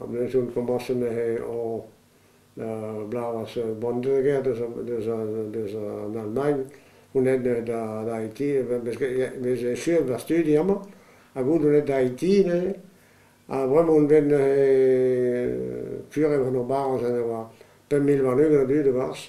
Am eus un komañs anezhe o bloaz bont-und-ugent deus an Almagn, unan d'Haiti, vez echuet va studi amañ, hag out unan d'Haiti neuze, ha bremañ on bet neuze fur e vo ur barroz en devoa pemp mil warn-ugent a dud e-barzh.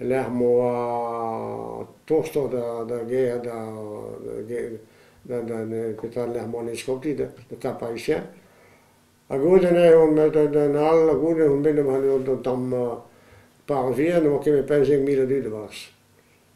Lec'h ma oa tostoc'h d'ar gêr petra lec'h ma oan eskopti petra Parisien. Ha goude neuze on bet d'an all ha goude on bet d'an tamm par vihan e oa ket bet pemzek mil a dud e-barzh.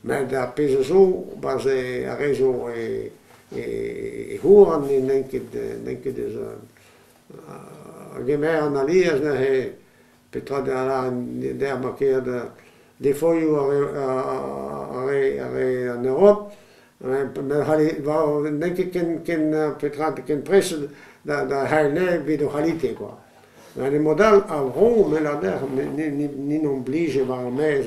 met ar pezh a zo, barzh ar re zo e c'houarn n'int ket n'int ket eus a gemer an alies neuze petra da lâret der ma ker da defolioù ar re ar re en Europe n'int ket ken petra ken prest da c'haellet evit o c'halite kwa met e mod all a vro 'meller dec'h n'int omplije war ar maez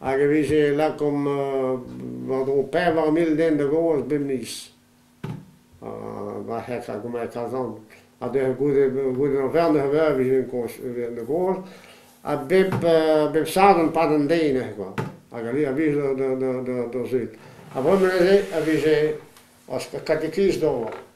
hag e vije lakaomp war-dro pevar mil den da goaz bep miz. war hec'h argument kazan. Ha neuze goude, goude ur vern a veur e vije da goaz. Ha bep, bep sadorn pad an deiz neuze kwa. Hag ali a blij d'o zud. Ha bremañ neuze a vije katekiz d'ober.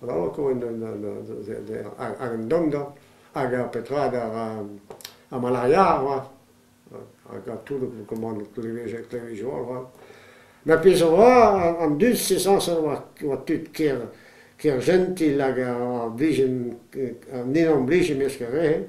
Bravañ ar dongañ hag petra ar malaria avat hag tout kommand klevizioù avat. Ma pezh a oa, an dud sezañs oa tud ker jentil hag ar ninon blij e-mesk ar re-se.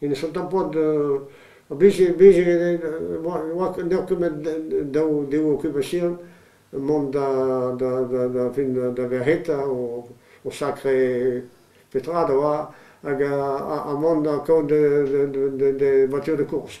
Ene son tampon n'eo ket met daou de occupation mont da fin da verc'heta o sakre petra da oa hag ha mont kaout de voiture de course.